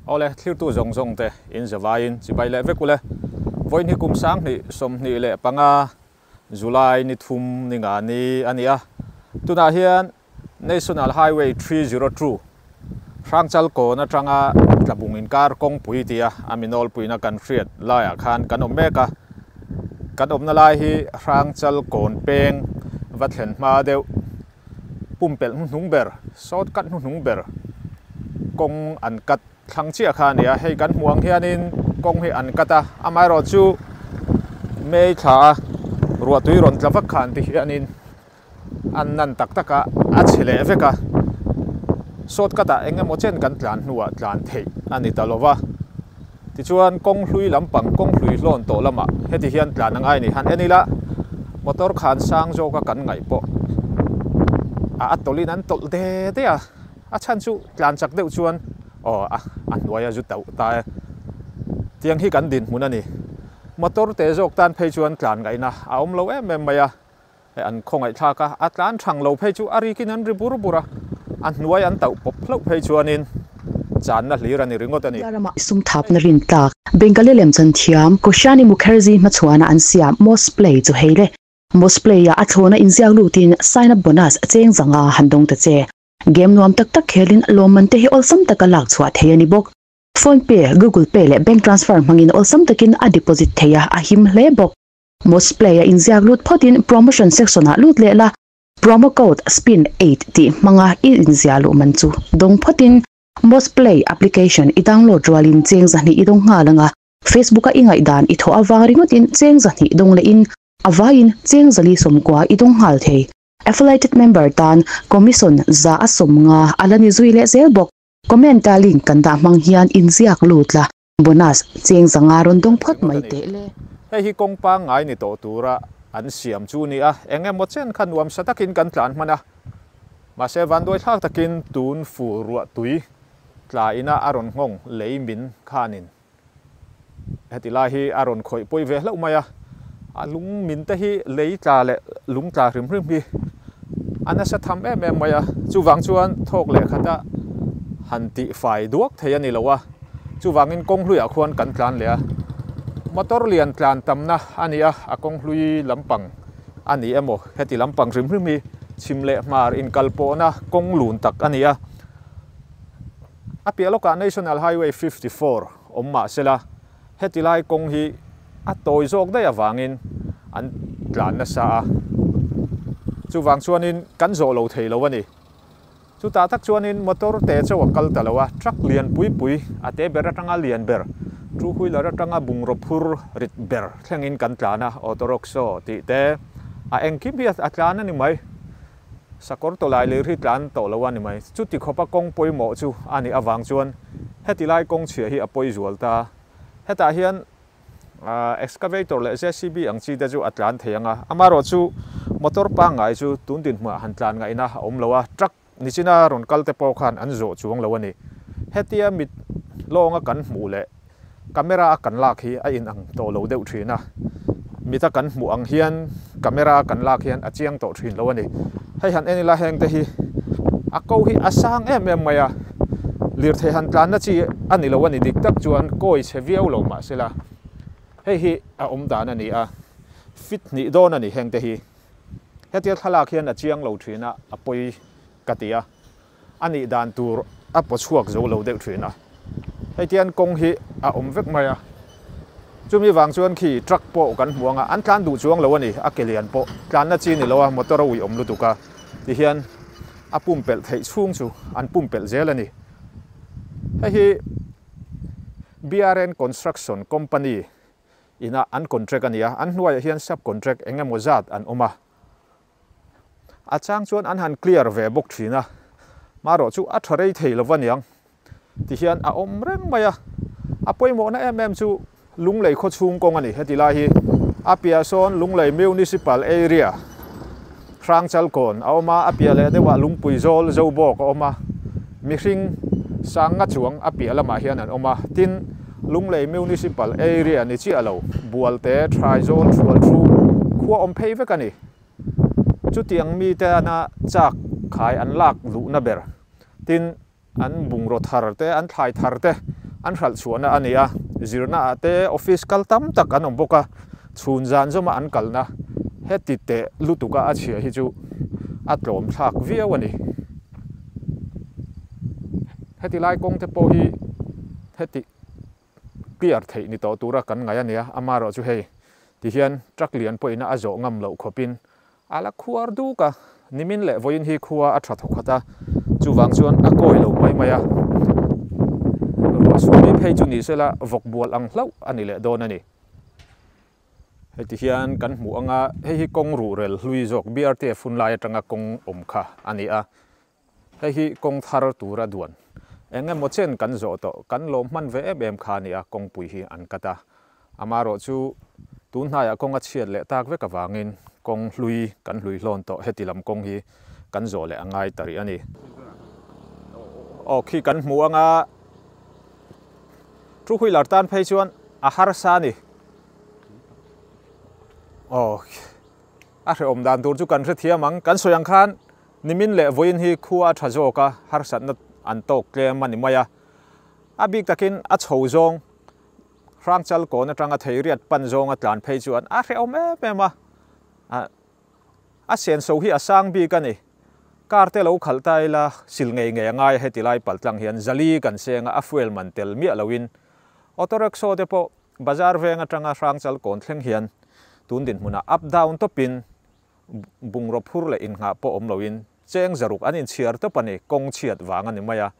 Awle, thlirtu zawng zawng te in zavai in chibai leh vek ule. Vawiini kum sang hnih, sawmhnih leh panga, July ni thum ni nga ni a ni a. Tunah hian National Highway three zero two Hrangchal Kawn atanga tla bung inkar kawngpui tia a mi nawlpuina kan hriat laiah khan kan awm mek a. Kan awmna lai hi Hrangchal Kawn peng va thlen hma deuh pumpelh hnuhnung ber, sawt kat hnuhnung ber kawng an kat thlang chiah kha a ni a. Hei kan hmuh ang hianin kawng hi an kat a, amaherawhchu May thlaah ruahtui rawn tla vak kha an ti hianin, An nan tak tak a, a chhe leh vek a. Short cut ah eng emaw chen kan tlan hnu ah tlan theih a ni ta lo va. Tichuan kawng hlui lampang, kawng hlui hlawn tawh lam ah heti hian tlan a ngai ni han en ila. Motor khan sang zawk a kan ngaih pawh a a tawlh in an tawlh de de a. A chhan chu tlan chak deuh chuan aw a a hnuai a zu tauh ta e. Tiang hi kan dinhmun a ni. Motor te zawk tan phei chuan tlan ngaihna a awm lo em em mai a. An khawngaihtlak a, a tlan thang lo phei chu a rikin an ri bur bur a, a hnuai an tauh pawp hlauh phei chuanin channa hlir a ni ringawt a ni. Mizaram ah sumthapna rin tlak Bengali lem chhan thiam Koshani Mukherjee hmachuan ah an siam Moss Play chu hei le. Moss Play ah a thlawn a inziak lut in sign up bonus cheng chang a han dawng ta che. Game nuam tak tak khel in lawmman te hi awlsam tak a lak chhuah thei a ni bawk. Phone pay, Google pay leh bank transfer hmang in awlsam tak in a deposit thei a, a him hle bawk. Most Play a inziak lut phawtin Promotion section ah lut leh la. Promo code spin eight tih hmanga i inziah luh man chu dawng phawtin Most Play application i download rualin cheng zahnih i dawng nghal anga Facebook a i ngaihdan i thawh avang ringawtin cheng zahnih dawng lehin a vaiin cheng zali sawmkua i dawng nghal thei. Affiliated member tan Commission za a sawm nga a la ni zui leh zel bawk. Comment a link kan dah hmang hian inziak lut la. Bonus, Cheng zanga rawn dawng phawt mai teh le. Hei hi kawngpang ngai ni tawh tura an siam chu nia, eng emaw chen kha nuam sa takin kan tlan hman a. Mahse, vanduaithlak takin tun fu ruah tui tla ina a rawn nghawng lei min khanin heti lai hi a rawn khawih pawi ve hlauh mai a. A lung min te hi lei tla leh lung tla hrim hrim hi a nasa tham em em mai a. Chuvang chuan thawk leh khata han tih fai duak thei a ni lo a. Chuvangin kawng hluiah khuan kan tlan leh a. Motor lian tlan tamna a ni a, a kawng hlui lampang a ni emaw heti lampang hrim hrim hi chhim leh hmar inkal pawhna kawng lun tak a ni a. A piah lawkah National Highway fifty four awm mahsela, Heti lai kawng hi a tawi zawk daih avangin an tlan nasa a, chuvang chuanin kan zawh lo thei lo a ni. Chutah tak chuanin motor te chauh a kal ta lo a, truck lian pui pui a te ber atanga lian ber, two wheeler atanga bungraw phur rit ber thlengin kan tlan a, auto rockshaw tih te a engkim hi a tlan a ni mai. Sakawr tawlai leh ri tlan tawh lo a ni mai. Chuti khawpa kawng pawimawh chu a nih avang chuan heti lai kawng chhia hi a pawi zual ta a. Hetah hian excavator leh JCB ang chi te chu a tlan thei ang a. Amarawh chu motor pangngai chu tun dinhmuah han tlan ngaih na a awm lo a, truck nichina rawn kal te pawh khan an zawh chuang lo a ni. Hetia mit lawnga kan hmuh leh. Camera a kan lak hi a in ang tawh lo deuh thin a, mit a kan hmuh ang hian camera a kan lak hian a chiang tawh thin lo a ni. Hei han en ila heng te hi a ko hi a sang em em mai a, lirthei han tlanna chi a ni lo a ni dik tak chuan kawi chhe viau lo mah se la hei hi a awm dan a ni a, fit hnih dawn a ni heng te hi. Hetia thlalak hian a chiang lo thin a a pawi ka ti a. A nih dan tur a paw chhuak zo lo deuh thin a. Hei tian kawng hi a awm vek mai a. Chumi vang chuan khi truck pawh kan hmu anga an tlan duh chuang lo a ni, a ke lian pawh tlanna chi ni lo a, motor a ui awm lutuk a ti hian a pumpelh theih chhung chu an pumpelh zel a ni. Hei hi BRN Construction company inah an contract a ni a, an hnuaiah hian sub-contract eng emaw zat an awm a, a chang chuan an han clear ve bawk thin a, marawh chu a tha rei thei lo aniang ti hian a awm reng mai a, a pawimawhna em em chu Lunglei khawchhung kawng a ni, heti lai hi a piah sawn Lunglei Municipal Area Hrangchalkawn a awm a, a piah leh deuhah Lungpui Zawl, Zobawk, a awm a, mihring Sanga chuang a piah lamah hian an awm a, tin. Lunglei Municipal Area ni chiah lo, Bualte, Thraizawl, Thualthu, khua awm phei vek a ni. Chutiang mite ana chak khai an lak duhna ber, tin an bungraw thar te, an thlai thar te an hralh chhuahna a ni a. Zirna ah te office kal tam tak an awm bawk a, chhun zan zawma an kalna heti teh lutuka a chhia hi chu a tlawmthlak viau a ni. Heti lai kawngte pawh hi. Hetih clear theih ni tawh tura kan ngaih a nia, ama erawh chu hei ti hian truck lian pawhina a zawh ngam loh khawpin a la khuar duk a, nimin leh vawiin hi khua a tha thaw khat a, chuvang chuan a kawi lo mai mai a, ruahsur mai phei chu ni sela vawk bual ang hlauh a ni leh dawn a ni. Heti hian kan hmuh anga hei hi kawng ruhrel hlui zawk BRTF hun lai atanga kawng awm kha a ni a, Hei hi kawng thar tura duan eng emaw chen kan zawh tawh, kan lawm hman ve em em kha nia kawngpui hi an cut a. Amarawh chu tun hnaiah kawng a chhiat leh tak vek avangin kawng hlui kan hlui hlawn tawh heti lam kawng hi kan zawh leh a ngai ta rih a ni. Aw khi kan hmu anga two wheeler tan phei chuan a harsa a ni. Aw a hreawm dan tur chu kan hrethiam ang, kan sawi ang khan Nimin leh vawiin hi khua tha zawka harsatna an tawk tlem a ni mai a, a bik takin a chho zawng Hrangchal kawn atanga theiriat pan zawnga tlan phei chuan a hrehawm em em a, a senso hi a sang bik a ni. Car te lo khalh ta ila sil ngei ngei angai a heti lai pal tlang hian zali kan seng a, a fuel man tel miah loin auto rickshaw te pawh bazar veng atanga Hrangchal kawn thleng hian tun dinhmunah up down tawpin Bungraw phur leh innghah pawh awm loin cheng zaruk an inchhiar tawp a ni, kawng chhiat vang a ni mai a.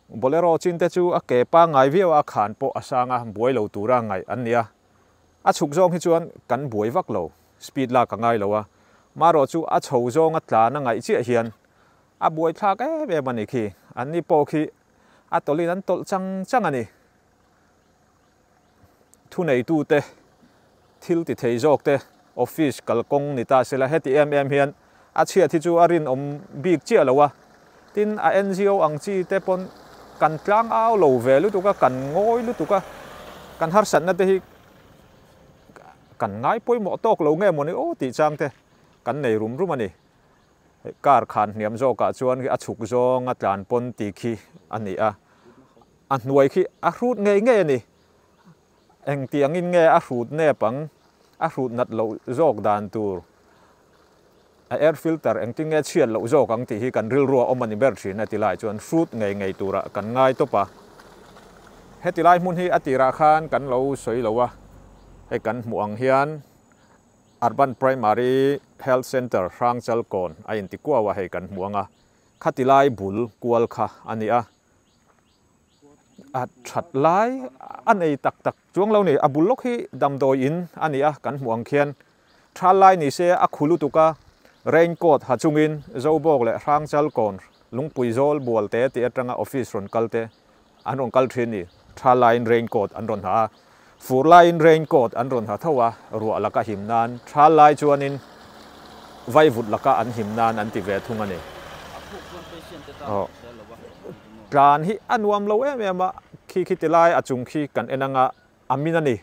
Bolero chinte chu a ke pangngai viau a khan pawh a sang a, buai lo tura ngaih an nia. A chhuk zawng hi chuan kan buai vak lo, speed lak a ngai lo a. Marawh chu a chho zawnga tlan a ngaih chiah hian a buai thlak em em a ni khi. Anni pawh khi a tawlhin an tawlh chang chang a ni. Thuneitute, thil ti thei zawkte, office kalkawng ni ta sela heti em em hian a chhiat hi chu a rinawm bik chiah lo a. Tin, a NGO ang chi te pawn kan tlang au lo ve lutuk a, kan ngawi lutuk a, kan harsatna te hi kan ngai pawimawh tawk lo nge maw ni aw tih chang te kan nei rum rum a ni. Hei car khan hniam zawkah chuan a chhuk zawnga tlan pawn ti khi a ni a. A hnuai khi a hrut ngei ngei a ni. Engtiangin nge a hrut nep ang? A hrut nat loh zawk dan tur a air filter engtin nge chhiat loh zawk ang tih hi kan rilru a awm a ni ber thin a ti lai chuan hrut ngei ngei turah kan ngai tawp a. Heti lai hmun hi a tirah khan kan lo sawi lo a, hei kan hmuh ang hian Urban Primary Health Centre Hrangchalkawn a inti kuau a hei kan hmuh ang a, khati lai bul kual kha a ni a. a that lai a nei tak tak chuang lo ni a bul lawk hi damdawi in a ni a kan hmuh ang khian thal lai ni se a khu lutuk a rain coat ha chung in zo bawk leh hrang chal kawn lungpui zawl bual te tih atanga office rawn kal te an rawn kal thin ni thal lai in rain coat an rawn ha a. Fur laiin rain coat an rawn ha tho a, ruah laka him nan, thal lai chuanin vaivut laka an him nan an ti ve thung a ni. Tlan hi a nuam lo em em a, khi khi ti lai a chung khi kan en anga a min a ni.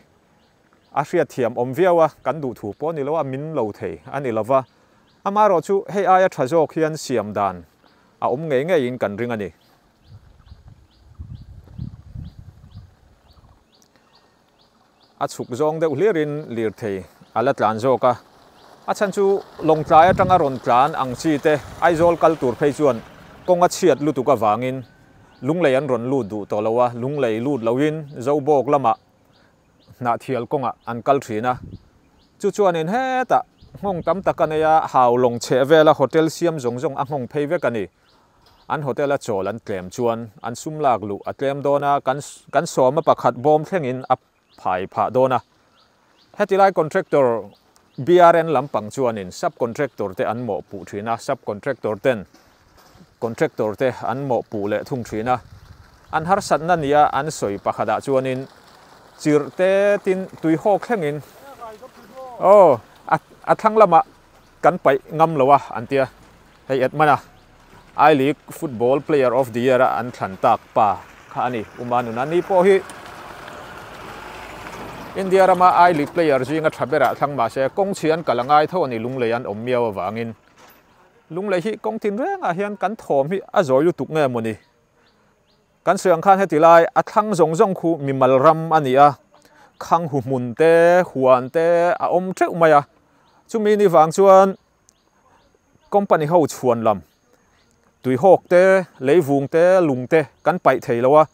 A hriatthiam awm viau a, kan duh thu pawh ni lo a, min lo thei a ni lova. Amaherawhchu hei aia tha zawk hian siam dan a awm ngei ngeiin kan ring a ni. A chhuk zawng deuh hliar in Lirthei a la tlan zawk a. A chhan chu Lawngtlai atang a rawn tlan ang chi te Aizawl kal tur phei chuan kawng a chhiat lutuk avang in lunglei an rawn lut duh tawh lo a. Lunglei lut lo in Zobawk lam ah hnah thial kawng ah an kal thin a. Chu chuan in hetah nghawng tam tak a nei a, hau lawng chheh vel a hotel siam zawng zawng a nghawng phei vek a ni. An hotel a chawl an tlem chuan an sum lak luh a tlem dawn a, kan kan sawma pakhat bawm thlengin a phai phah dawn a. Hetilai contractor BRN lampang chuanin subcontractor te an mawh puh thin a, subcontractor ten contractor te an mawh puh leh thung thin a. An harsatna nia an sawi pakhatah chuanin chirh te tin tuihawk thlengin aw a a thlang lamah Kan paih ngam lo a an tia. Hei Edmana I League Football Player of the Year-a an thlan tak pa kha a ni. Uma nuna ni pawh hi India rama I League player zinga tha bera a thlang mahse kawng chhian kal a ngai tho a ni lunglei an awm miau avangin. Lunglei hi kawng tinrengah hian kan thawm hi a zawi lutuk nge maw ni? Kan suiang khan heti lai a thlang zawng zawng khu mimal ram a ni a, khang huhmun te, huan te a awm teuh mai a. Chumi ni vang chuan company ho chhuan lam, tuihawk te, leivung te, lung te kan paih thei lo a,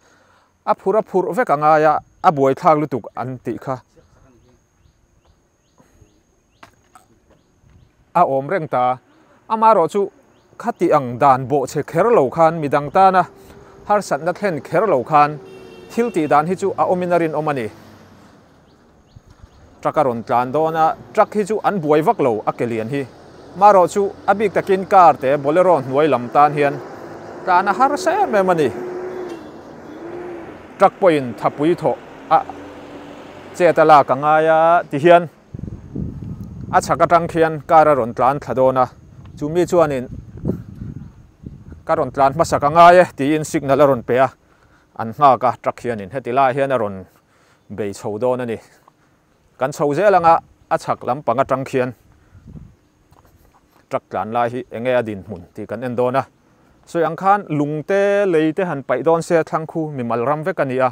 a phur a phurh vek a ngai a, a buaithlak lutuk an tih kha. a awm reng ta a, amah erawh chu khati ang dan bawhchhe kher lo khan midang tana harsatna thlen kher lo khan thil tih dan hi chu a awmin a rinawm a ni. Truck a rawn tlan dawn a, truck hi chu an buai vak lo a ke lian hi. Marawh chu a bik takin car te Bolero hnuai lam tan hian tlan a har sa em em a ni. Truck pawhin thapui thawh a chet a lak a ngai a ti hian a chhak atang khian car a rawn tlan thla dawn a. Chu mi chuanin ka rawn tlan hmasak a ngai e tiin signal a rawn pe a, an nghak a truck hianin heti lai hian a rawn bei chho dawn a ni. Kan chho zel anga a chhak lam pang atang khian truck tlan lai hi enge a dinhmun tih kan en dawn a. Sawi ang khan lung te lei te han paih dawn se thlangkhu mi mal ram vek a ni a,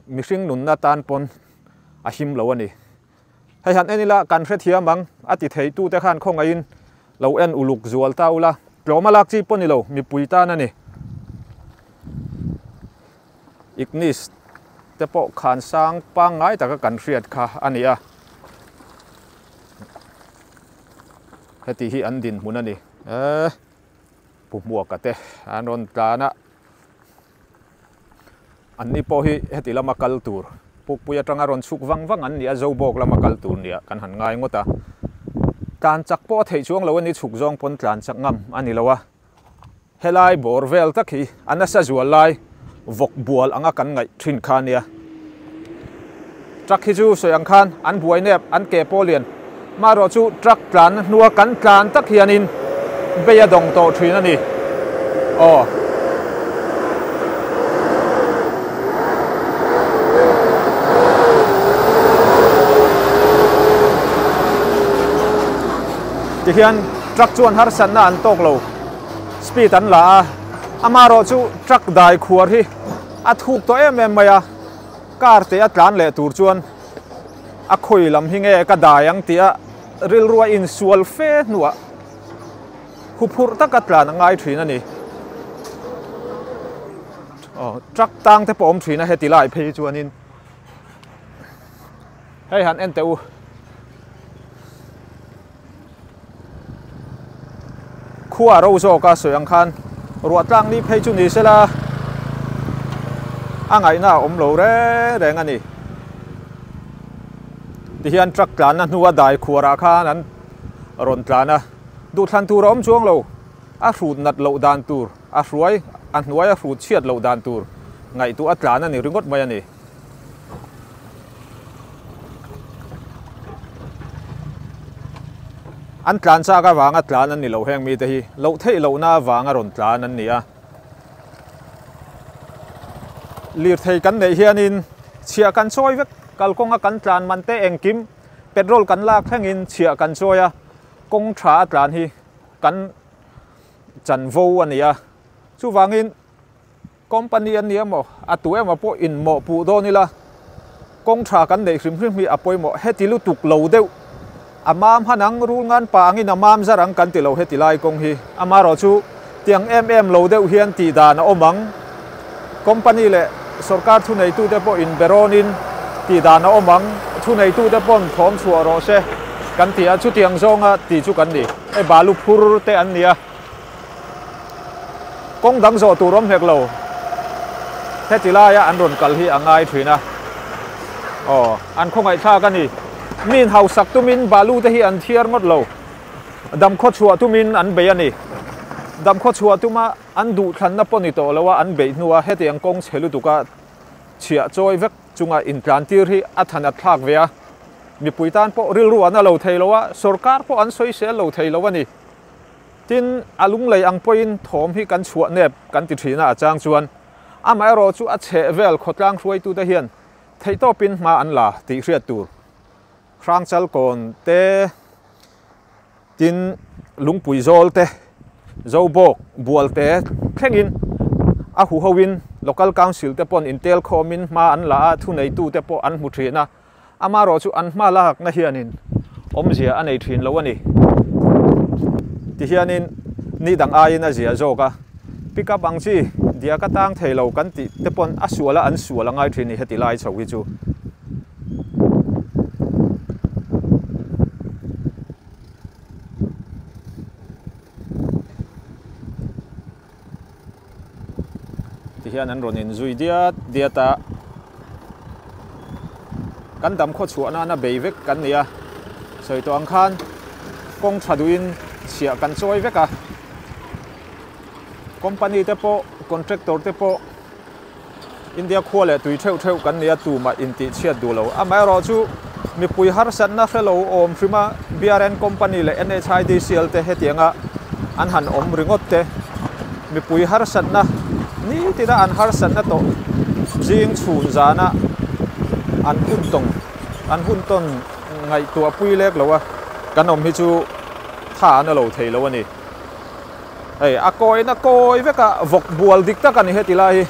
mihring nunna tan pawn a him lo a ni. Hei han en ila kan hrethiam ang, a ti theitute khan khawngaihin lo en uluk zual ta ula, tlawma lak chi pawh ni lo, mipui tan a ni. Ignis te pawh khan sang pangngai taka kan hriat kha a ni a, heti hi an dinhmun a ni. Eeh, pu hmuaka te an rawn tlan a, anni pawh hi heti lama kal tur pukpui atanga rawn chhuk vang vang an ni a, Zobawk lama kal tur nia kan han ngai ngawt a, tlan chak pawh a theih chuang lo a ni, chhuk zawng pawn tlan chak ngam a ni lo a. Helai bawr vel tak hi a nasa zual lai vawk bual anga kan ngaih thin kha nia. Truck hi chu sawi ang khan an buai nep an ke pawh lian. Maherawh chu truck tlan na hnua kan tlan tak hianin bei a dawng tawh thin a ni. Aw. Tihian truck chuan harsatna an tawk lo. Speed an la a, amarawh chu truck dai khuar hi a thuk tawh em em mai a, car te a tlan leh tur chuan a khawi lam hi nge ka dai ang tia rilrua in sual fe hnuah hu phurh tak a tlan a ngai thin a ni. Truck tang te pawh awm thin a heti lai phei hi chuan in Hei han en teh u. Khua ro zawk a sawi ang khan ruahtlang ni phei chu ni se la a ngaihna a awm lo reng reng a ni. Ti hian truck tlanna hnua dai khuarah khan an rawn tlan a. Duhthlan tur a awm chuang lo. A hrut nat loh dan tur, a hruai a hnuaia hrut chhiat loh dan tur ngaihtuah a tlan a ni ringawt mai a ni. An tlan chak avanga tlan an ni lo heng mite hi loh theih lohna avanga rawn tlan an ni a. Lirthei kan neih hianin chhia kan chawi vek, kalkawnga kan tlan man te engkim petrol kan lak thengin chhia kan chawi a, kawng tha a tlan hi kan chanvo a ni a. Chuvangin. Company a ni emaw, a tu emaw pawh in mawh puh dawn ila, kawng tha kan neih hrim hrim hi a pawi maw heti lutuk lo deuh, a mam han ang rul ngan pa angin a mam zar ang kan ti lo heti lai kawng hi amarawh chu tiang em em lo deuh hian tih dan a awm ang, company leh sorkar thuneitute pawh in berawnin tih dan a awm ang, thuneitute pawn thawm chhuah rawh se kan ti a, chutiang zawnga ti chu kan ni, e balu phur te an ni a. Kawng dang zawh tur awm hek lo. Heti laia an rawn kal hi a ngai thin a. Aw, an khawngaihthlak a ni. Min hausak tumin balu te hi an thiar ngawt lo. Damkhaw chhuah tumin an bei a ni. Damkhaw chhuah tuma an duh thlanna pawh ni tawh loa an beih hnua hetiang kawng chhe lutuka chhiah chawi vek chunga intlantir hi a thanat thlak ve a. Mipui tan pawh rilruahna lo thei loa sorkar pawh an sawisel lo thei lo a ni. Tin, a lunglei ang pawhin thawm hi kan chhuah nep kan ti thin a, a chang chuan amaherawh chu a chheh vel khawtlang hruaitute hian theihtawpin hma an la tih hriat tur Hrangchalkawn te, tin, Lungpui Zawl te, Zobawk, Bual te thlengin a huhoin Local Council te pawn intel khawmin hma an la a, thuneitute pawh an hmu thin a. amarawh chu an hma lakna hianin awmzia a nei thin lo a ni. Tihianin ni dang aiin a ziah zawk a, Pickup ang chi diak a tang thei lo kan tih te pawn a suala an sual a ngai thin a ni heti lai chho hi chu. Ti hian an rawn in zui diat diat a. Kan dam khaw chhuah nana bei vek kan nia. Sawi tawh ang khan kawng tha duhin chhiah kan chawi vek a. Company te pawh, contractor te pawh. India khua leh tui theuh theuh kan nia tumah intihchhiat duh lo. Amaherawh chu mipui harsatna hre lo awm hrim a, BRN company leh NHIDCL te hetianga an han awm ringawt te. Mipui harsatna nitina an harsatna tawh zing chhun zana an hun tawng, an hun tawn ngaihtuahpui lek lo a, kan awm hi chu tha an la lo thei lo a ni. hei a kawina kawi veka vawk bual dik tak a ni heti lai hi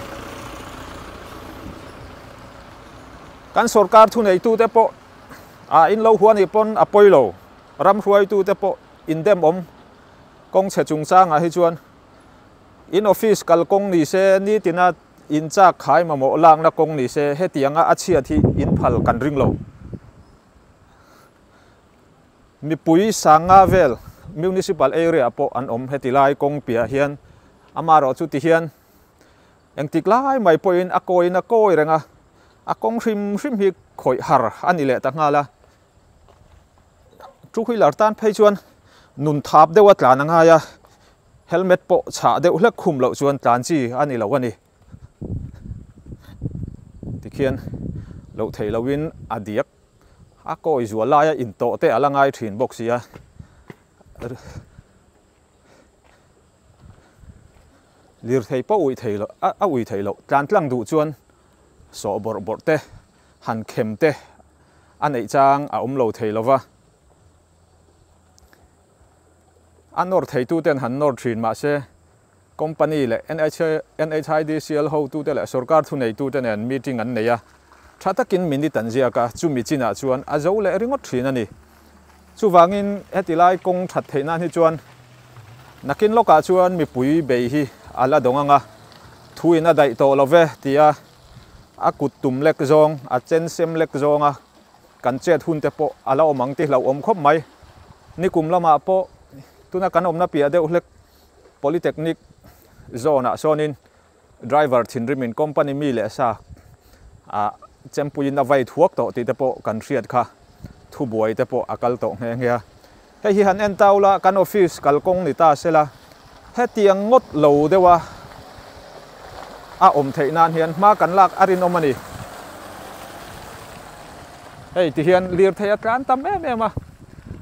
kan sorkar thuneitu te pawh a in lo huan hi pawn a pawi lo ram hruaitu te pawh in dem awm kawng chhe chung chang ah hi chuan in office kal kawng ni se ni tina in chak khai mamawh lak na kawng ni se hetianga a chhiat hi in phal kan ring lo Mipui sanga vel municipal area ah pawh an awm heti lai kawng piahah hian amarawh chu tihian engtik lai mai pawhin a kawina kawi reng a, a kawng hrim hrim hi khawih har a ni leh ta nghal a. Two wheeler tan phei chuan nun thap deuha tlan a ngai a, helmet pawh chhah deuh hlek khum loh chuan tlan chi a ni lo a ni. Tikhian loh theih lohin a diak a kawi zual lai a in tawh te a la ngai thin bawk sia lirthei pawh ui thei loh a ui thei loh tlan tlang duh chuan sawh bawr bawr te han khem te a neih chang a awm lo thei lova a nawr thei tu ten han nawr thin mahse Company leh NHIDCL hotute leh sorkar thuneitute nen meeting an nei a, tha takin minute an ziak a, chumi chinah chuan a zo leh ringawt thin a ni. Chuvangin heti lai kawng that theih nan hi chuan nakin lawkah chuan mipui bei hi a la dawng ang a, thuin a daih tawh lo ve tia a kut tum lek zawng, a chen sem lek zawng a kan chet hunte pawh a la awm ang ti hlauh awm khawp mai. Nikum lamah pawh tuna kan awmna piah deuh hlek. Polytechnic zawnah sawnin driver thinrimin company mi leh sa a chempuiin a vei thuak tawh tih te pawh kan hriat kha thubuai te pawh a kal tawh nghe nghe a. Hei hi han en tau la, kan office kalkawng ni ta sela hetiang ngawt lo deuha a awm theih nan hian hma kan lak a rinawm a ni. Hei ti hian lirthei a tlan tam em em a,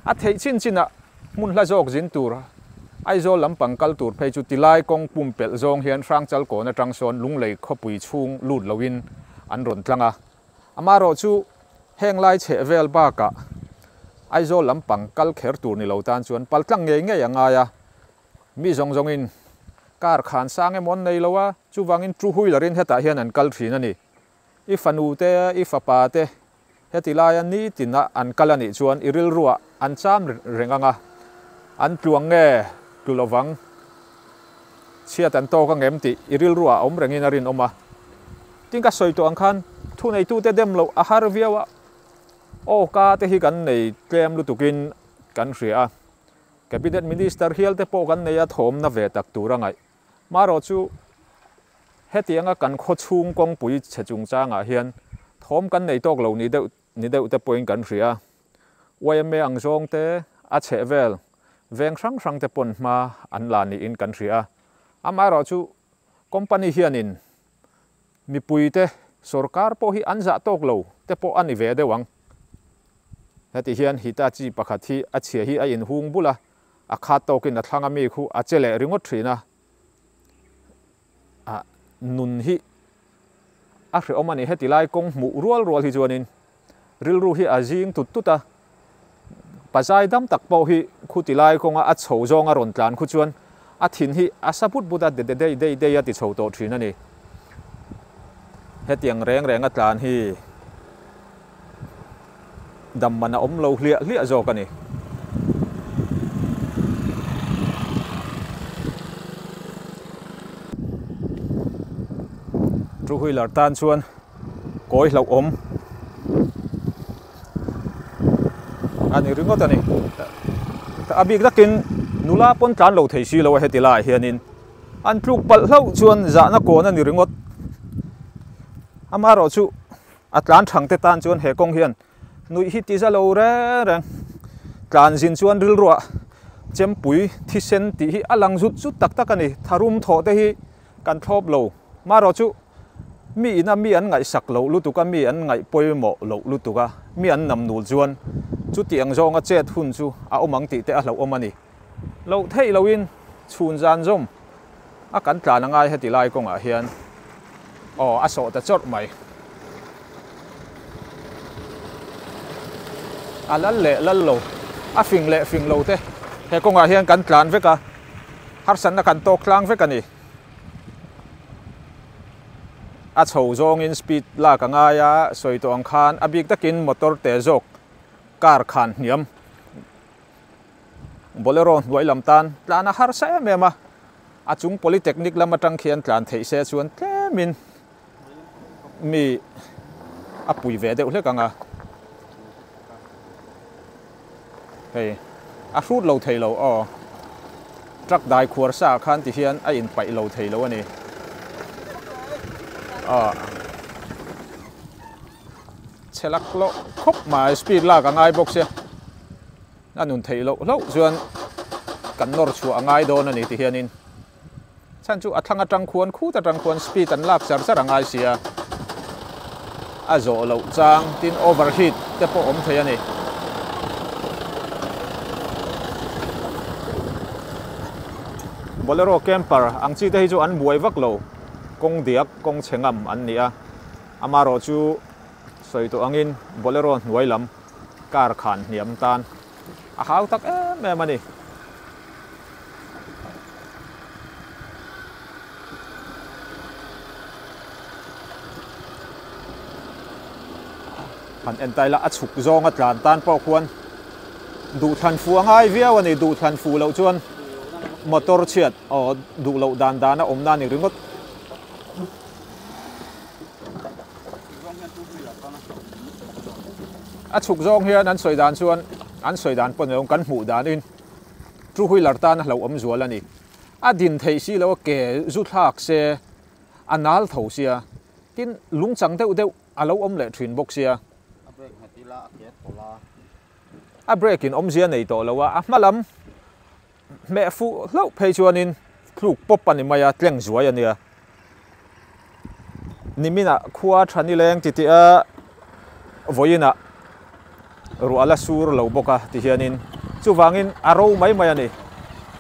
a theih chin chinah Hmunhla zawk zin tur Aizawl lampang kal tur phei chu tilai kawng pumpelh zawng hian Hrangchal kawn atang sawn Lunglei khawpui chhung lut loin an rawn tlang a. Amaherawh chu heng lai chheh vel bakah Aizawl lampang kal kher tur ni lo tan chuan pal tlang ngei ngei a ngai a. Mi zawng zawngin car khan sang emaw an nei lo a, chuvangin two wheeler-in hetah hian an kal thin a ni. I fanu te, i fapa te hetilaia nitina an kal a nih chuan i rilruah an cham reng ang a, an tluang nge tlu lo vang, chhiat an tawk ang em tih i rilruah awm rengin a rinawm a. Tin ka sawi tawh ang khan thuneitute dem loh a har viau a, aw ka te hi kan nei tlem lutukin kan hria a, Cabinet Minister hial te pawh kan nei a thawmna ve tak tur a ngaih. Marawh chu hetianga kan khawchhung kawngpui chhe chungchangah hian thawm kan nei tawk lo ni deuh ni deuh te pawhin kan hria. Yma ang zawng te, a chheh vel veng hrang hrang te pawn hma an la niin kan hria. Amaherawhchu company hianin mipuite sorkar pawh hi an zah tawk lo te pawh a ni ve deuh ang. Hetih hian Hitachi pakhat hi a chhia hi a inhung bul a, a khat tawkin a thlang a mi khu a che leh ringawt thin a. Nun hi a hrehawm a ni, heti lai kawng hmuh rual rual hi chuanin. Rilru hi a zing tut tut a, pazai dam tak pawh hi khutilai kawnga a chho zawnga rawn tlan khu chuan a thin hi a sa but but a, de de dei dei dei a ti chho tawh thin a ni. Hetiang reng renga tlan hi dam man a awm lo hliah hliah zawk a ni. Two wheeler tan chuan Kawi hlauh awm a ni ringawt a ni. A bik dakin nula pawn tlan lo thei si lo a heti laiah hianin an tluk palh hlauh chuan zahna kawn a ni ringawt. Amaherawh chu a tlan thangte tan chuan he kawng hian nuih hi ti za lo reng reng. Tlan zin chuan rilruah, chempui, thisen tih hi a lang zut zut tak tak a ni. Tharum thawhte hi Kan thlawp lo. Marawh chu mi ina mi an ngaihsak loh lutuk a, mi an ngaih pawimawh loh lutuk a, mi an nam nul chuan chutiang zawnga chet hun chu a awm ang tih te a hlauhawm a ni. Loh theih loin chhun zan zawm a kan tlan a ngai heti lai kawngah hian aw a sawh ta chawrh mai. A lal leh lal lo, a fing leh fing lo te. He kawngah hian kan tlan vek a, Harsatna kan tawk tlang vek a ni. A chho zawngin speed lak a ngai a, sawi tawh ang khan a bik takin motor teh zawk car khan hniam. Bolero hnuai lam tan tlan a harsa em em a, a chung Polytechnic lam atang khian tlan theih se chuan tlemin. mi a pui ve deuh hlek ang a, hei a hrut lo thei lo aw, truck dai khuar sa ah khan ti hian a in paih lo thei lo a ni aw, chhelak hlawh khawp mai speed lak a ngai bawk sia, a nun theih loh hlauh chuan kan nawr chhuah a ngai dawn a ni ti hian in. chhan chu a thlang a tang khuan khut a tang khuan speed an lak char char a ngai si a a zawh loh chang tin over heat te pawh awm thei a ni bolero camper ang chi te hi chu an buai vak lo kawng diak kawng chhe ngam an ni a ama rawh chu Sawi tawh angin Bolero hnuai lam car khan hniam tan a hau tak em em a ni. Han en ta ila a chhuk zawnga tlan tan pawh khuan duhthlan fu a ngai viau a ni. Duhthlan fu loh chuan motor chhiat aw duh loh dan dan a awmna a ni ringawt. a chhuk zawng hian an sawi dan chuan an sawi dan pawh nei awm kan hmuh dan in two wheeler tan a hloh awm zual a ni a din thei si lo ke zu thlak se a nal tho sia tin lung chang deuh deuh a lo awm leh thin bawk sia a break in awmzia nei tawh lo a a hma lam Hmeh fuh hlauh phei chuanin tluk pawp a ni mai a, tleng zuai a nia. Nimina khua tha ni leng titih a vawiina rual a sur lo bawk a ti hianin chuvangin a ro mai mai a ni.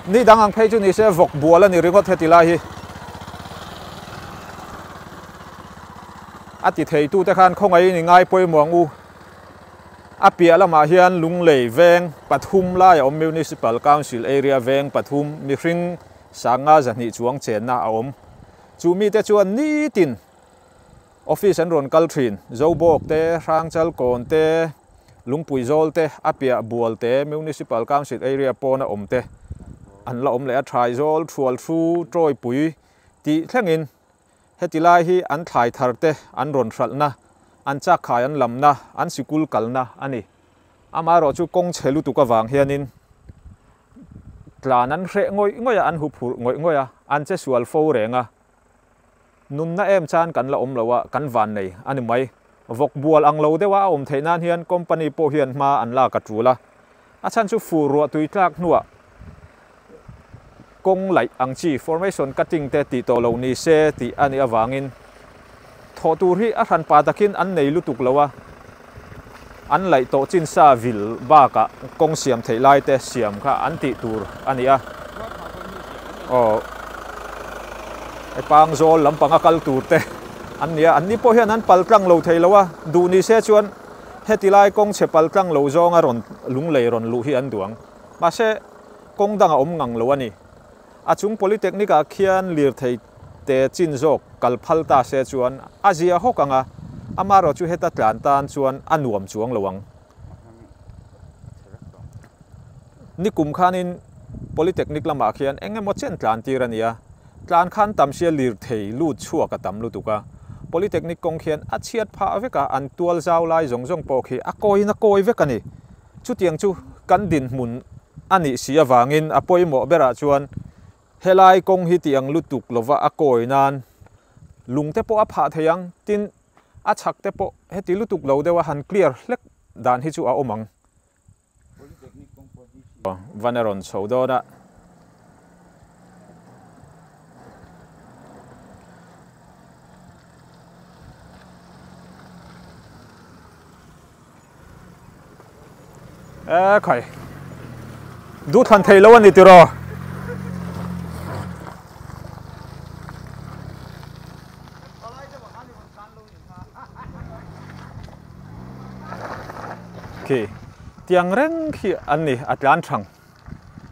Ni dang ang phei chu ni se vawk bual a ni ringawt heti lai hi. A ti theitute khan khawngaih in i ngai pawimawng u. A piah lamah hian Lunglei veng pathum laia awm Municipal Council Area veng pathum mihring sanga zahnih chuang chenna a awm. Chu mite chuan nitin Office an rawn kal thin. Zobawk te, Hrangchal Kawn te, Lungpui Zawl te, a piah Bual te, Municipal Council Area pawna awm te an la awm leh a, Thraizawl, Thrualhru, Tawipui tih thlengin. Heti lai hi an thlai thar te, an rawn hralhna, an chakkhai an lamna, an sikul kalna a ni. Amaherawh chu kawng che lutuk avang hianin tlan an hreh ngawih ngawih a, an hu phurh ngawih ngawih a, an che sual fo reng a. Nunna em chan kan la awm loh a, kan van nei a ni mai. Vawk bual ang lo deuha a awm theih nan hian company pawh hian hma an lak a tul a. A chhan chu fuh ruah tui tlak hnuah kawng laih ang chi, formation cutting te tih tawh lo ni se tih a nih avangin thawh tur hi a hran pah takin an nei lutuk lo a. An laih tawh chin sa vil bakah kawng siam theih lai te siam kha an tih tur a ni a. Aw, hepang zawl lam panga kal tur te an ni a. An ni pawh hian an pal tlang lo thei lo a, duh ni se chuan heti lai kawng chhe pal tlang lo zawnga rawn lunglei rawn luh hi an duang. Mahse, kawng dangah awm ngang lo a ni. A chung Polytechnic ah khian lirthei te chin zawk kal phal ta se chuan a zia hawk ang a, amarawh chu heta tlan tan chuan a nuam chuang lo ang. Nikum khanin Polytechnic lamah khian eng emaw chen tlan tir a nia, tlan khan tam sia lirthei lut chhuak a tam lutuk a, Polytechnic kawng khian a chhiat phah vek a, an tual zau lai zawng zawng pawh khi a kawi na kawi vek a ni. Chutiang chu kan dinhmun a nih si avangin a pawimawh berah chuan helai kawng hi tiang lutuk lova a kawi nan lungte pawh a phah thei ang, tin, a chhak te pawh heti lutuk lo deuha han clear hlek dan hi chu a awm ang. Van a rawn chho dawn a. e khai du than thei lo ani tiro khi tiang reng khi an ni a tlan thang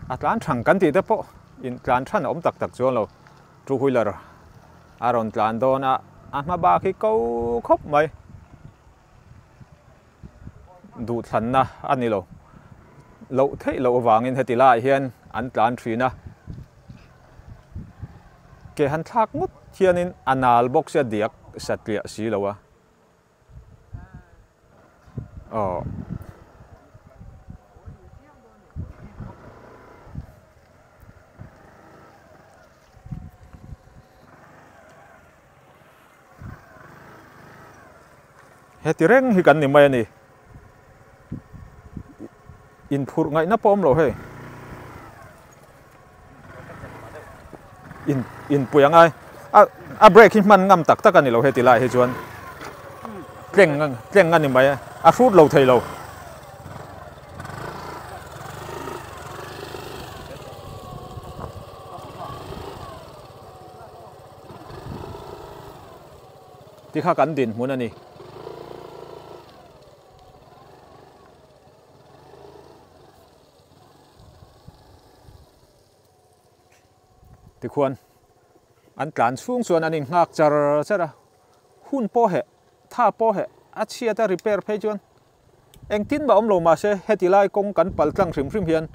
A tlan thang kan tih te pawh in tlan than a awm tak tak chuan lo. Two wheeler a rawn tlan dawn a, a hma bak hi ko khawp mai. Duhthlanna a ni lo. Loh theih loh avangin heti laiah hian an tlan thin a. Ke han thlak ngawt hianin a nal bawk sia diak satliah si lo a. Aww. Heti reng hi kan ni mai a ni. in phurh ngaih na pawh awm lo hei in in pui angai a a break hi hman ngam tak tak ani lo he tilai hi chuan tleng tleng ani mai a hrut lo thei lo Ti kha kan dinhmun a ni. Tikhuan an tlan chhung chuan an inghak char char a. Hun pawh heh, tha pawh heh, a chhiat a repair phei chuan Engtin mah awm lo mah se heti lai kawng kan palh tlang hrim hrim hian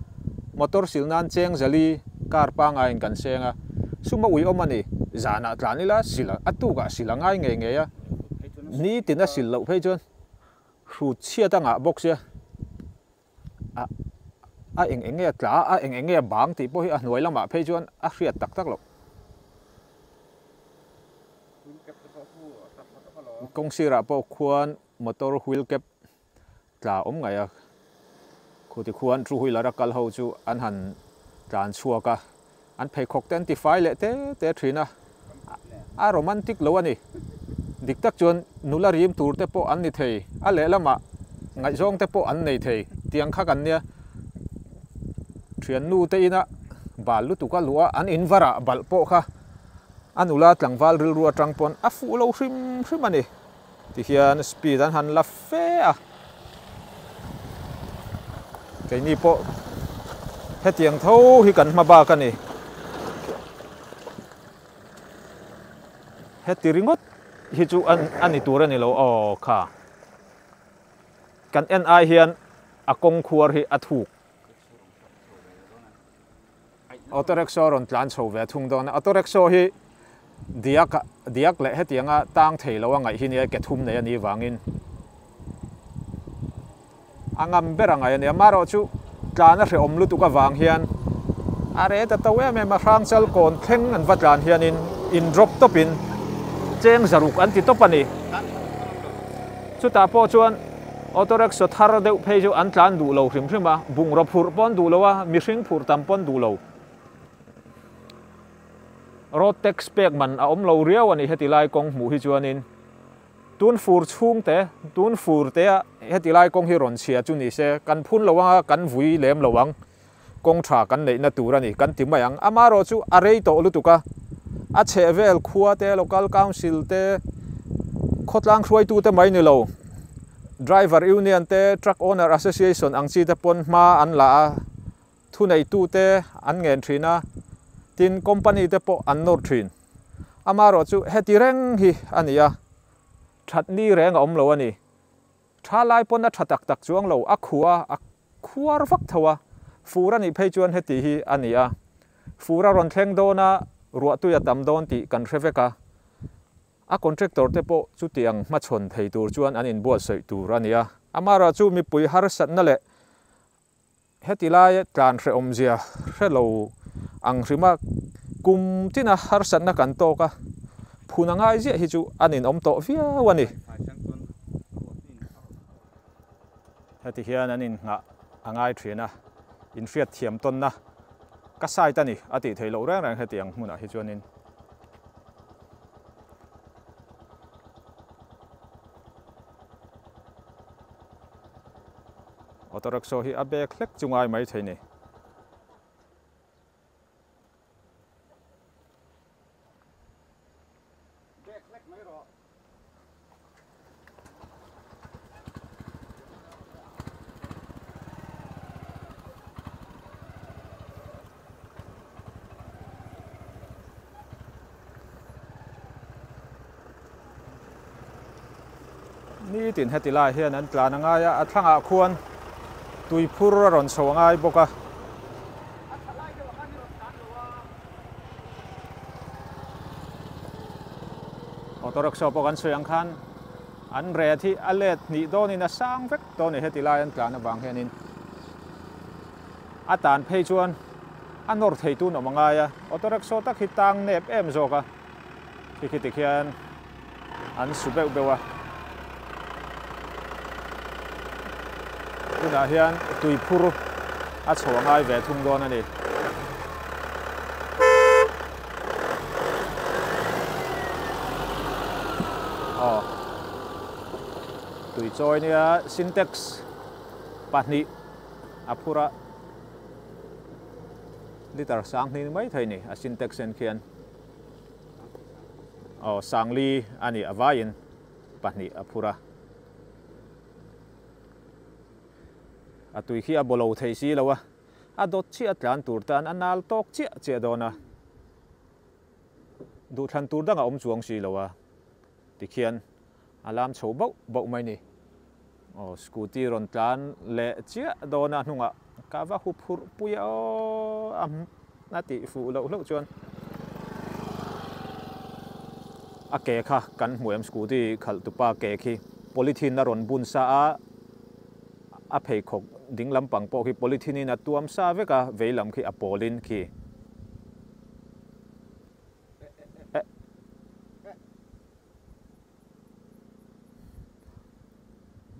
motor sil nan cheng zali car pangaiin kan seng a, suma ui awm a ni, zanah tlan ila sil a tukah sil a ngai ngei ngei a, ni tina sil loh phei chuan hru chhiat angah bawk sia a a eng eng nge tla a eng eng nge bang tih pawh hi a hnuai lamah phei chuan a hriat tak tak loh. Kawng sirah pawh khuan Motor wheel cap tla awm ngaih a khu ti khuan two wheeler a kal ho chu an han tlan chhuak a, an pheikhawk te an ti fai leh te te thin a, a romantic lo a ni, dik tak chuan nula rim tur te pawh an ni thei a lehlamah ngaihzawng te pawh an nei thei tiang kha kan nia, thiannu te ina bal lutuk a luh a, an in varah balh pawh kha a nula tlangval rilru atang pawn a fuh lo hrim hrim a ni. Ti hian speed an han la fe a. Keini pawh hetiang tho hi kan hma bak a ni. Heti ringawt hi chu a ni tur a ni lo aw kha. Kan en ai hian a kawng khuar hi a thuk. Auto Rickshaw rawn tlan chho ve a thung dawn a, Auto Rickshaw hi diak a diak leh hetianga tang thei lo a ngaih hi nia, ke thum nei a nih vangin a ngam ber a ngaih a nia, amaherawh chu tlan a hrehawm lutuk avang hian a re ta tho em em a, hrang chal kawn thleng an va tlan hianin in drop tawpin cheng zaruk an ti tawp a ni, chutah pawh chuan. Auto Rickshaw thar deuh phei chu an tlan duh lo hrim hrim a, bungraw phurh paw'n duh lo a, mihring phurh tam paw'n duh lo. Road tax pek man a awm lo riau a nih heti lai kawng hmuh hi chuanin tun fur chhungte, tun furtea heti lai kawng hi rawn chhia chu ni se, kan phun lo ang a, kan vui lem lo ang. Kawng tha kan neihna tur a ni kan ti mai ang. Amaherawh chu a rei tawh lutuk a, a chhehvel khua te, local council te, khawtlang hruaitu te mai ni lo, driver union te, truck owner association ang chi te pawn hma an la a, thuneitu te an ngen thin a, tin company te pawh an nawr thin. Amaherawh chu heti reng hi a ni a, that ni reng a awm lo a ni. Tha lai pawn a tha tak tak chuang lo, a khua a khuar vak tho a, fur a nih phei chuan heti hi a ni a, fur a rawn thleng dawn a, ruahtui a tam dawn tih kan hre vek a, a contractor te pawh chutiang hmachhawn thei tur chuan an inbuatsawi tur a ni a. Amaherawhchu mipui harsatna leh Heti lai tlan hre awmzia hre lo ang hrim a, kum tina harsatna kan tawk a, phun a ngai ziah hi chu an inawm tawh viau a ni. Heti hian an inngah a ngai ṭhin a, inhriat thiam tawnna ka site a ni a tih theih loh reng reng heti ang hmunah hi chuanin. Auto rickshaw hi a bag hlek chu ngai mai theih ni. Nitin heti lai hian an tlan a ngai a, a thlangah khuan tui phur a rawn chho a ngai bawk a. Auto rickshaw pawh kan sawi ang khan an ret hi a let hnih dawnin a sang vek dawn a ni heti lai an tlan avang hianin. A tan phei chuan a nawr theitun awm a ngai a, auto rickshaw tak hi tang nep em zawk a, khi khi tik hian an su beuh beuh a. Tunah hian tui phur a chho a ngai ve thung dawn a ni. Tui chawi nia, sintex pahnih. A phur a, liter sang hning mai thei ni, a sintex en khian aw sang li a ni a vaiin pahnih a phur a. A tui khi a baw lo thei si lo a, a dawt chiah a tlan tur tan a nal tawk chiah chiah dawn a, duhthlan tur dangah awm chuang si lo a tikhian A lam chho bauh bauh mai ni. Aw, scooty rawn tlan leh chiah dawn a hnungah ka va hu phurh pui a aww a tih fuh loh hlauh chuan a ke kha kan hmu em scooty khalh tupa ke khi polythene a rawn bun sa a, a pheikhawk ding lampang pawh khi polythene in a tuam sa vek a, vei lam khi a pawlin khi.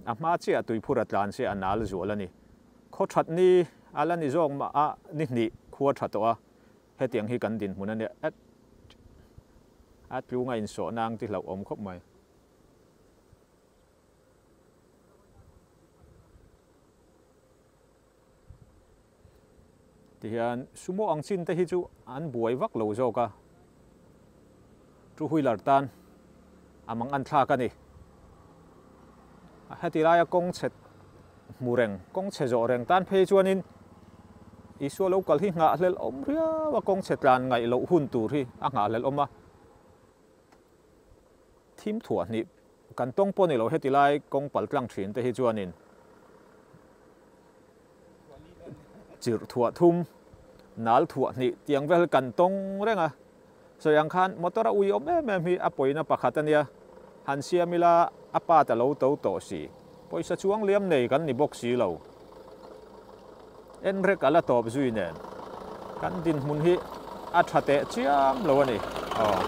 A hma chiah tuiphur a tlan se a nal zual a ni. Khaw that ni a la ni zawk mah a ni hnih khua tha tawh a, hetiang hi kan dinhmun a nia at a tlunga insawhna ang tihloh awm khawp mai. Ti hian sumo ang chin te hi chu an buai vak lo zawk a, two wheeler tan a mang an thlak a ni. A heti laia kawng chhe hmu reng, kawng chhe zawh reng tan phei chuanin Isua lo kal hi nghah hlel awm riau a, kawng chhe tlan ngaih loh hun tur hi a nghah hlel awm a. Thim thuah hnih kan tawng pawh ni lo, heti lai kawng pal tlang thin te hi chuanin chirh thuah thum, nal thuah hnih tiang vel kan tawng reng a. Sawi ang khan motor a ui awm em em hi a pawina pakhat a nia, han siam ila a part a lo to tawh si. Pawisa chuang liam nei kan ni bawk si lo. En rek a la tawp zui nen kan dinhmun hi a tha teh chiam lo a ni. Aw.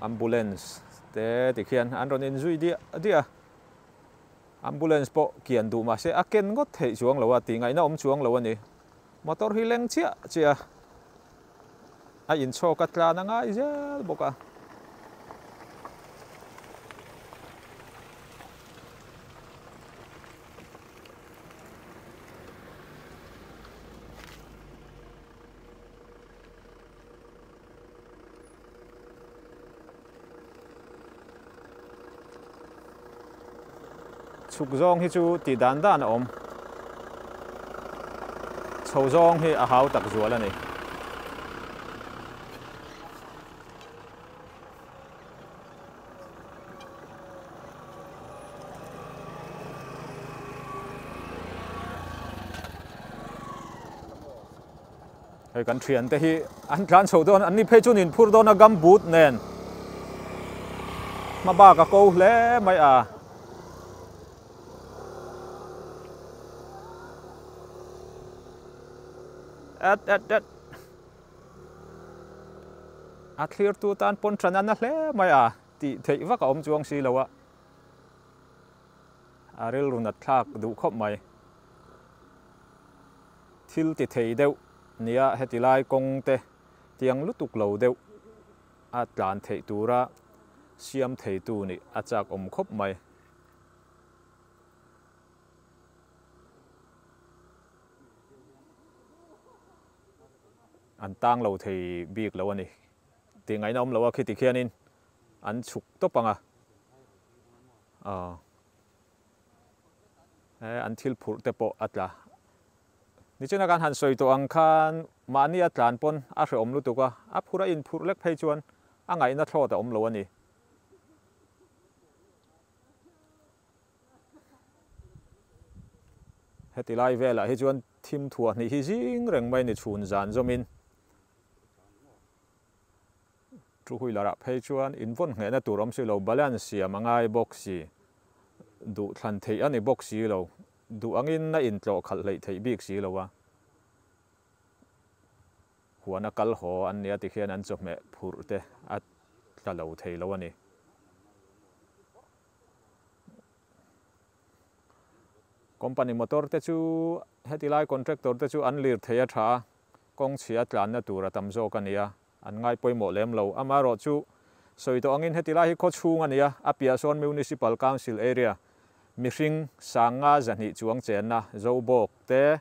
Ambulance te ti khian an rawn inzui diah diah a. Ambulance pawh kian duh mahse a ken ngawt theih chuang lo a, tih ngaihna awm chuang lo a ni. Motor hi leng chiah chiah a inchhawk a tlan a ngai zel bawk a. Chhuk zawng hi chu tih dan dan a awm. Chho zawng hi a hau tak zual a ni. Hei kan thian te hi an tlan chho dawn an ni phei chuan in phur dawn a gum boot nen hma bak a ko hle mai a. At at at a thlir tu tan pawn tran an na hle mai a tih theih vak a awm chuang si lo a a rilru nat thlak duh khawp mai Thil ti thei deuh nia hetilai kawngte tiang lutuk lo deuh a tlan theih tura siam theitu nih a chak awm khawp mai. An tang lo thei bik lo a ni. Tih ngaihna awm lo a, khitikhianin an chhuk tawp ang a. He an thil phurh te pawh a tla. Nichina kan han sawi tawh ang khan mahni a tlan pawn a hrehawm lutuk a, a phur a inphurh lek phei chuan a ngaihna thlawt a awm lo a ni. Heti lai velah hi chuan thim thua hnih hi zing reng mai ni chhun zan zawmin. Two wheeler ah phei chuan in vawn nghehna tur awm si lo, balance siam a ngai bawk si, duh thlan theih a ni bawk si lo, duh angin a in tlawh khalh hleih theih bik si lo a, huan a kal haw an nia tikhian an chawhmeh phurh te a tla lo thei lo a ni. Company motor te chu heti lai contractor te chu an lirthei a tha a, kawngchhia tlanna tur a tam zawk a nia, an ngai pawimawh lem lo. Amaherawh chu, sawi tawh angin heti lai hi khaw chhung a nia, a piah sawn Municipal Council Area, mihring sang nga zahnih chuang chenna, Zobawk te,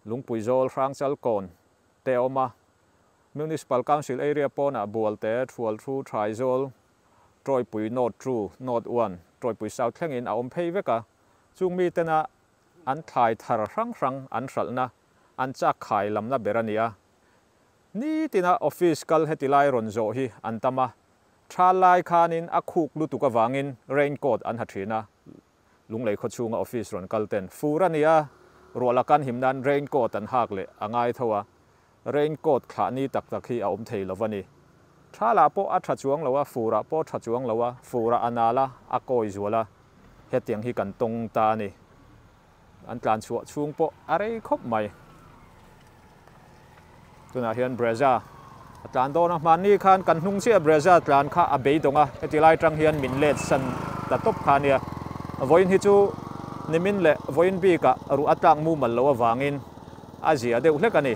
Lungpui Zawl, Hrangchal Kawn te a awm a, Municipal Council Area pawnah Bualte, Thualthu, Thraizawl, Tawipui North two, North one, Tawipui South thlengin a awm phei vek a, chung mi tena an thlai thar hrang hrang an hralhna, an chak khai lam la ber a nia. Nitina office kal heti lai rawn zawh hi an tam a, tha lai khanin a khuk lutuk avangin raincoat an ha thin a. Lunglei khaw chhunga office rawn kal ten fur a nia, ruah la kan him nan raincoat an hak leh a ngai tho a, raincoat thlah ni tak tak hi a awm thei lo a ni. Tha lah pawh a tha chuang lo a, fur ah pawh a tha chuang lo a, fur ah a nal a, a kawi zual a, hetiang hi kan tawng ta a ni. An tlan chhuah chhung pawh a rei khawp mai. Tunah hian Brezza a tlan dawn a. Hmanni khan kan hnung chiah Brezza tlan kha a beidawng a. Hetilai tang hian min let san ta tawp kha nia. Vawiin hi chu nimin leh vawiin bika ruh a tlak mumal lo avangin a zia deuh hlek a ni.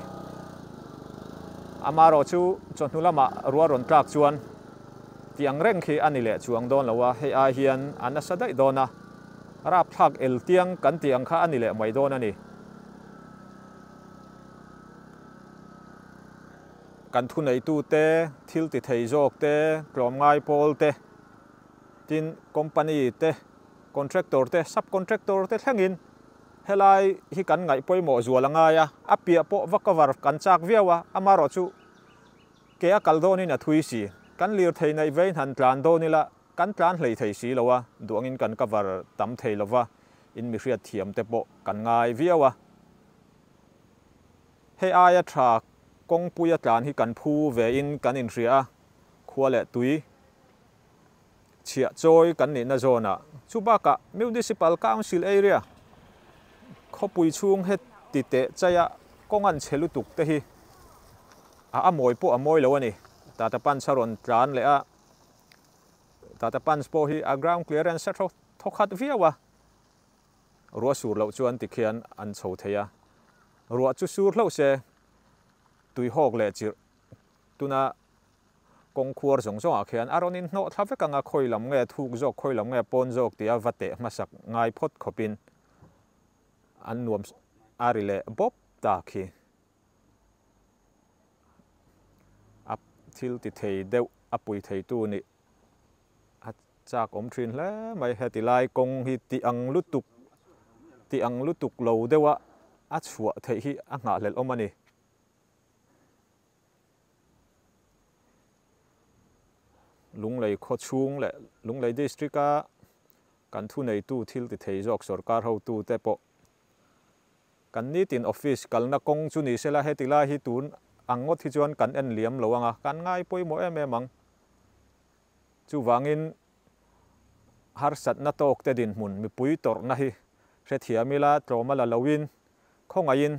Amarawh chu chawhnu lama rua rawn tlak chuan tiang reng khi a ni leh chuang dawn lo a. Hei ai hian a nasa daih dawn a. Rapthlak el tiang kan tih ang kha a ni leh mai dawn a ni. Kan thuneihtu te, thil ti thei zawk te, tlawm ngai pawl te, tin company te, contractor te, subcontractor te thlengin helai hi kan ngaih pawimawh zual a ngai a, a piah pawh va cover kan chak viau a, amarawhchu ke a kal dawnin a thui si. Kan lirthei neih vei hnan tlan dawn ila Kan tlan hlei thei si lo a, duangin kan cover tam thei lo va, in mihriat thiam te pawh kan ngai viau a. Hei aia tha kawngpuia tlan hi kan phu ve in kan in hria a, khua leh tui chhiah chawi kan nihna zawn a. Chu bakah Municipal Council area khawpui chhung he ti teh chaia kawng an che lutuk te hi a a mawi pawh a mawi lo a ni. Tata Panchha rawn tlan leh a. Tata Punch pawh hi a ground clearance a tho thaw khat viau a, ruah sur loh chuan ti khian an chho thei a, ruah chu sur hlauh se tui hawk leh chirh tuna kawng khuar zawng zawngah khian a rawn in hnawh thla vek ang a, khawi lam nge thuk zawk, khawi lam nge pawn zawk tia va teh hmasak ngai phawt khawpin an nuam a ri leh bawp tak hi. a thil ti thei deuh a pui theitu nih a chak awm thin hle mai. Heti lai kawng hi tih ang lutuk, tih ang lutuk lo deuha a chhuah theih hi a nghahhlelh awm a ni. Lunglei khaw chhung leh Lunglei District-a kan thuneitu thil ti thei zawk sawrkar hotute pawh Kan nitin office kalna kawng chu ni sela heti lai hi tun ang ngawt hi chuan kan en liam lo anga kan ngai pawimawh em em ang. Chuvangin harsatna tawkte dinhmun mipui tawrhna hi hrethiam ila tlawma la loin khawngaihin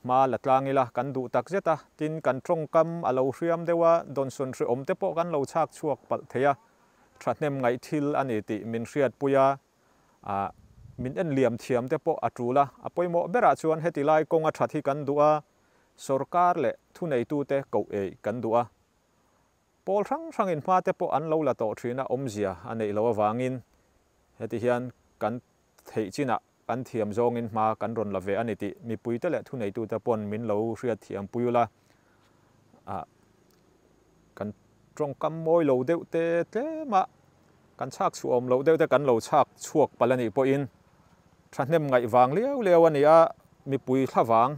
hma la tlang ila kan duh tak zeta tin kan tawngkam a lo hriam deuha dawnsawn hreawmte pawh kan lo chhak chhuak palh theia thahnem ngaihthil a ni tih min hriatpuia. a min en liam thiam te pawh a tul a, a pawimawh berah chuan heti lai kawnga that hi kan duh a, sorkar leh thuneitute koh ei kan duh a, pawl hrang hrangin hma te pawh an lo la tawh thin a awmzia a neih loh avangin heti hian kan theih chinah kan thiam zawngin hma kan rawn la ve a ni tih mipuite leh thuneitute pawn min lo hriat thiam pui ula. a kan tawngkam mawi lo deuh te tlem a, kan chhak chhuah awm loh deuh te kan lo chhak chhuak pal a nih pawhin thahnem ngaih vang liau liau a ni a, mipui thlavang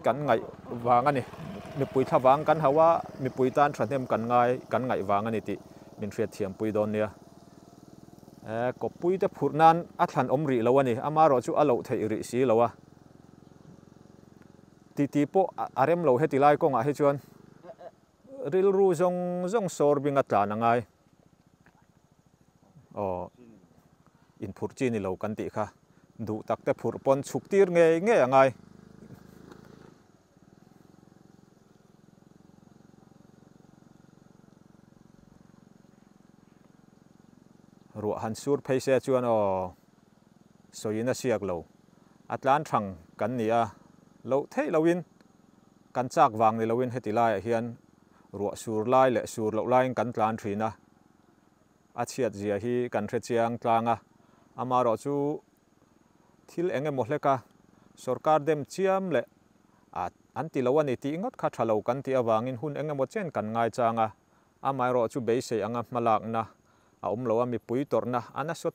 kan ngaih vang a ni, mipui thlavang kan hauh a, mipui tan thahnem kan ngai kan ngaih vang a ni tih min hriatthiam pui dawn nia. Kawppui te phurh nan a thlan awm rih lo a ni, amarawh chu a loh theih rih si lo a. ti ti pawh a rem lo heti lai kawngah hi chuan rilru zawng zawng sawrbing a tlan a ngai aw in phurh chi ni lo kan tih kha duh tak te phurh pawn chhuk tir ngei ngei a ngai ruah han sur phei se chuan aw sawiin a siak lo. A tlan thang kan ni a, loh theih loin kan chak vang ni loin heti laiah hian ruah sur lai leh sur loh laiin kan tlan thin a, a chhiat zia hi kan hre chiang tlang a, amarawh chu thil eng emaw hleka sorkar dem chiam leh a an ti lo a ni tih ngawt kha tha lo kan tih avangin hun eng emaw chen kan ngai chang a, amaherawhchu beisei anga hmalakna a awm lo a, mipui tawrhna a nasawt